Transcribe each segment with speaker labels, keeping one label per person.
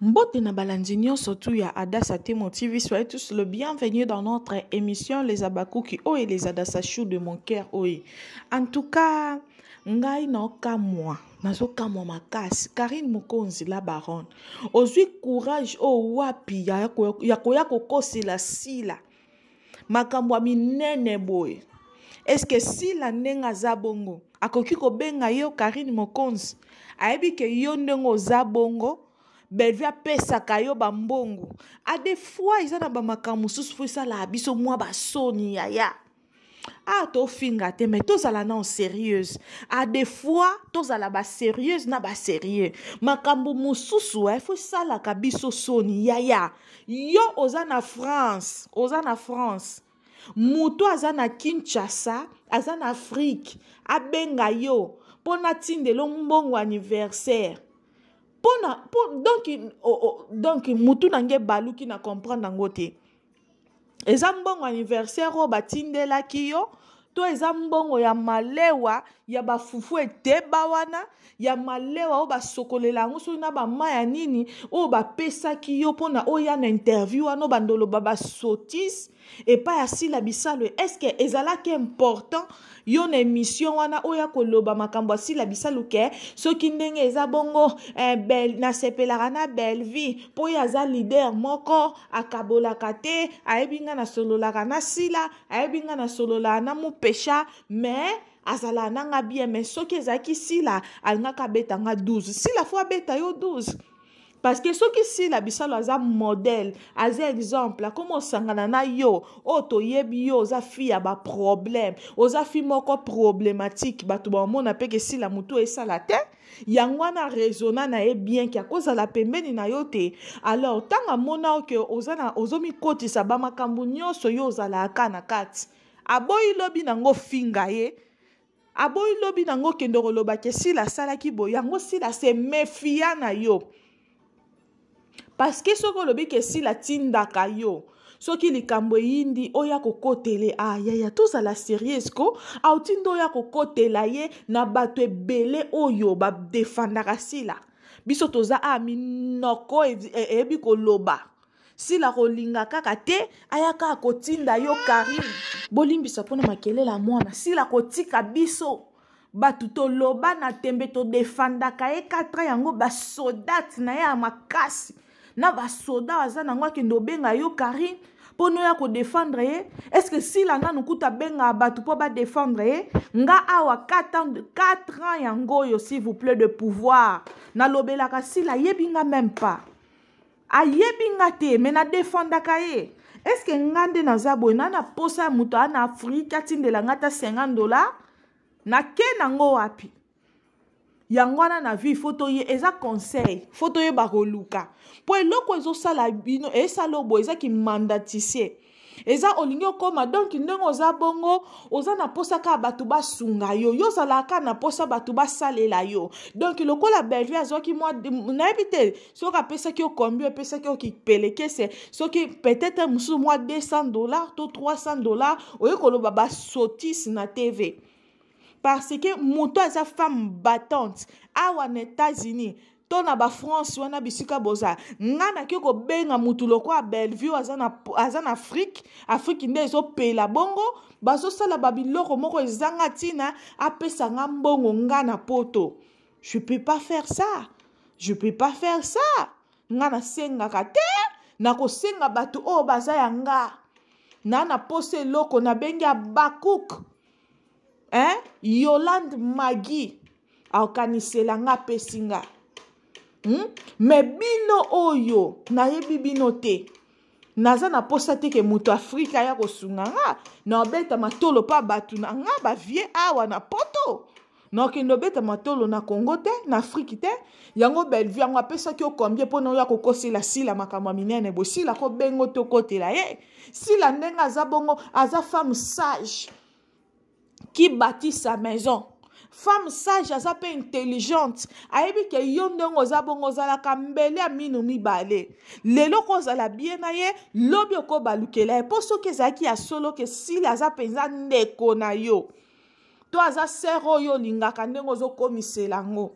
Speaker 1: Mbote na balandi nyonso tu ya Adassa Temo TV, soyez tous le bienvenu dans notre émission Les Abakuki oh et les Adassa Chou de mon cœur oh. En tout cas, ngai naokamwa nazokamwa makasi karine mokonzi la baronne ozwi courage oyo oh, wapi ya koya kokosela sila makambo ya minene boye eske sila ndenge aza bongo akoki kobenga yo karine mokonzi ayebi ke yo ndenge oza bongo bellevue apesaka yo bambongo a de fois eza na bamakambo mosusu fo esalaka biso mwa basoni yaya ah tofinga te mais tozala nao sérieuse a des fois tozala basérieuse na basérieux makambo mosusu eh, fo esalaka biso soni yaya yo oza na france oza na france moto aza na kinshasa aza na afrike abenga yo mpo natindelo mbongo anniversaire pona po, donc, oh, oh, donc mutu na nge baluki na comprendre yango te eza mbongo anniversaire oyo batindelaki yo to eza mbongo ya malewa ya bafufu eteba wana ya malewa oyo basokolela yango soki na bama ya nini oyo bapesaki yo mpona oya na interview wana bandoloba basotise epai ya sila bisalo eske ezalaki important yo na emission wana oya koloba makambo asila bisalu ke soki ndenge eza bongo eh, bel, nasepelaka na belvie mpo ye aza lider moko akabolaka te ayebi ngai nasololaka na sila ayebi ngai nasololaka na mupesha mais azalaka na nga bien mais soki ezalaki sila alingaka abeta nga 12 sila fo abeta yo 12 parce que soki sila bisalu aza modèle aza exemple akoma osangana na yo oyo oh, toyebi yo oza fi ya baproblème oza fi moko problématique bato bamona mpe ke sila motu esala te yango wana raisonna na ye bien ke akozala pembeni na yo te alors ntango amona oke ozomikotisa bamakambo nyonso yo ozalaka na kati aboyi lobi nango ofinga ye aboyi lobi na ngo kende koloba ke sila asalaki boye yango sila se mefia na yo parceke soki olobi ke sila atindaka yo soki likambo eyindi oya kokotele ah yaya tozala serieuse ko auti nde oya kokotela ye na bato ebele oyo badefandaka sila biso toza a ah, minoko e, e, eyebi koloba sila kolinga kaka te aya kaka kotinda yo karine bolimbisa mpona makelele ya mwana sila kotika biso bato toloba na tembe todefandaka ye 4 ans yango basodate na ye ya makasi na basoda aza nango akende obenga yo karine mpo noya kodefendre ye estce sila nanu kuta abengaka bato mpo badefendre ye nga awa 4 ans, 4 ans yango oyo s'il vous plaît de pouvoir nalobelaka sila ayebi nga meme pas ayebi nga te me na defendaka ye eske nga nde naza boye na na posa ya moto aa na afrike atindela nga ata 50 dollar nake nango wapi yango wana na vie fo toye eza conseil fo toyeba koluka mpo eloko ezosala bino esala oboye eza kimandatise eza olingi okoma donk ndenge oza bongo oza na mposa kaka bato basunga yo yo ozalaka kaka na mposa bato basalela yo donk lokola bellevue azwaki mwa nayebi te soki apesaki yo kombi opesaki yo kipelekese soki peut-être mosusu mwa 200 dollars to 300 dollars oye koloba basotise na tv parce que moto aza femme battante awa na états-unis to na bafrance wana bisika boza nga nake kobenga motu lokola bellevue aza na, aza na afrike afrike nde ezopela bongo bazosala babiloko moko ezanga ntina apesa nga mbongo nga na poto je peux pas faire ça je peux pas faire ça nga nasengaka te nakosenga bato oyo baza ya nga na naposa eloko nabengi abakuk eh? yolande magi aokanisela nga apesi nga hmm? me bino oyo nayebi bino te naza na mposa te ke moto afrika aya kosunga nga na obeta matolo mpa bato na nga bavie awa na poto nakokende obeta matolo na congo te na afriki te yango bellevue yango apesaki yo combien mpona oya kokosela sila makambo ya minene bosila kobengo tokotela ye sila ndenge aza bongo aza femme sage qui bâtit sa maison femme sage aza mpe intelligente ayebi ke yo ndenge oza bongo ozalaka mbele ya minu mibale lelo ko ozala bie na ye lobi okobalukela ye mpo soki ezalaki ya solo ke sili aza mpenza ndeko na yo to aza sere oyo olingaka ndenge ozokomisela yango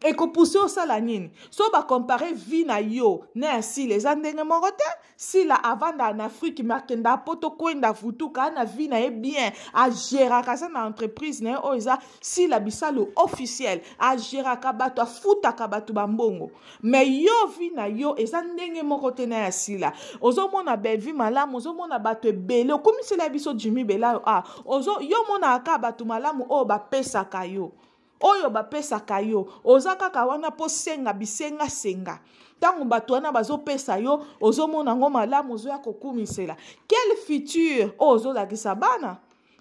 Speaker 1: ekopuse osala nini so bakompare vie na yo na ya sila eza ndenge moko te sila avanda na afrike me akenda poto kwenda futuka ana vie na ye bien ageraka aza na entreprise na ye oyo eza sila bisalu officiel ageraka bato afutaka bato bambongo me yo vie na yo eza ndenge moko te na ya sila ozomona bellevie malamu ozomona bato ebele okomisela biso jimi belayo a ah, ozo yo monaka bato malamu oyo bapesaka yo oyo bapesaka yo oza kaka wana mpo senga bisengasenga ntango bato wana bazopesa yo ozomona yango malamu ozoya kokumisela quel futur oyo ozolakisa bana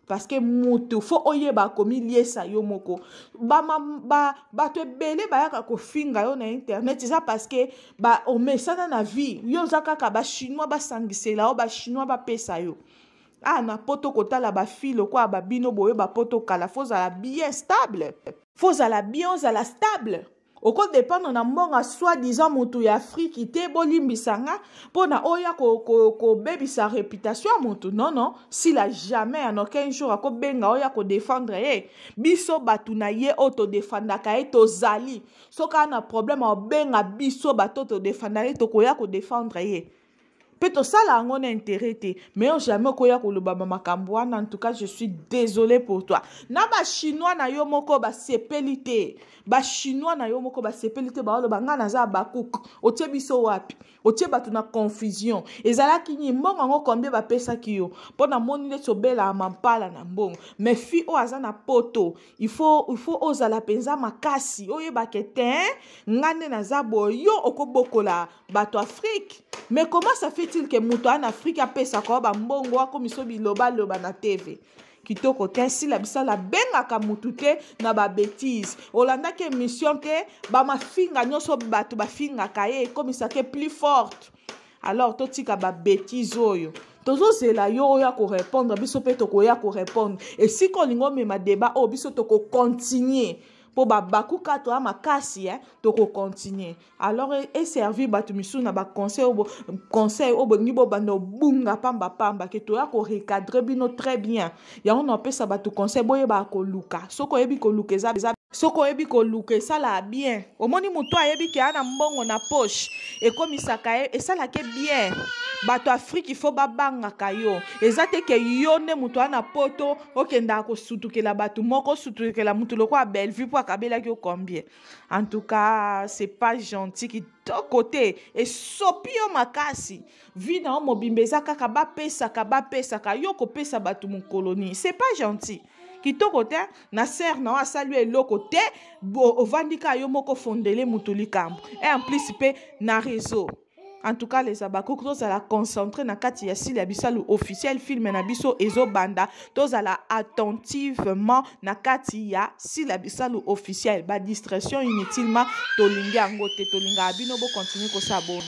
Speaker 1: parce que mutu fo oyeba akomiliesa yo moko bato ba, ba, ebele bayaka kofinga yo na internet eza parce que ba, omesana na vie yo oza kaka bachinois basangisela yo bachinois bapesa yo ah na poto kotala bafi lokola babino boye bapoto kala fo ozala bien stable fo ozala bien ozala stable okodependre na mbongo soit disant motu ya afriki te bolimbisa nga mpo na oya kobebisa ko, ko réputation ya motu non non sila jamais en aucun jour akobenga oya kodefendre ye biso bato na ye oyo todefandaka ye tozali soki ana problème obenga biso bato todefanda ye tokoya kodefendre ye mpe tosala yango na intérêt te mais yo jamais okoya koloba bamakambo wana en tout cas je suis désolé pour toi na bachinois na yo moko basepeli te bachinois na yo moko basepeli te baoloba ngai naza abakuk otie biso wapi otie bato na confusion ezalaki nini mbongo yango kombie bapesaki yo mpo namoni neti obelaa mampala na mbongo mais fi oyo aza na poto il faut il faut ozala mpenza makasi oyeba ke te ngai nde naza boye yo okobokola bato afrike mais comment ça fait-il ke moto ana afrike apesaka yo bambongo akomiso bilobaloba na tv kitoko te nsila bisala abengaka motu te na babetise olandaki émission te bamafinga nyonso bato bafingaka ye ekomisaka plus forte alors totika babetise oyo tozozela yo oya korépondre biso mpe tokoya korépondre esika olingi omema débat oyo biso tokocontinue mpo babakuka toya makasi eh, tokocontinue alors e, eservir bato misusu na baconseil oyo conseil oyo bolingi bobanda obunga pambapamba ke toya korecadre bino très bien yango napesa bato conseil boyebaka koluka soki oyebi koluka eza eza soki oyebi koluka esalaka bien omoni motu ayebi ke ana mbongo na poche ekomisaka ye esalaka ye bien bato afrike ifo babangaka yo eza te ke yo nde moto wana poto okendaka kosutukela bato moko osutukela moto lokola bellevue mpo akabelaki yo combien en tout cas c'est pas gentil kitoko te esopi yo makasi vie na yo mobimba eza kaka bapesaka bapesaka yo kopesa bato mokolo nini c'est pas gentil kitoko te na sere na yo asali yo eloko te ovandi kaka yo moko fondele motu likambo e en plus mpe na réseau en tout cas les abakoki tozala concentre na kati ya sili ya bisalu officiel filme na biso ezobanda tozala attentivement na kati ya sili ya bisalu officiel badistraction inutilement tolingi yango te tolingaka bino bocontinue kosabona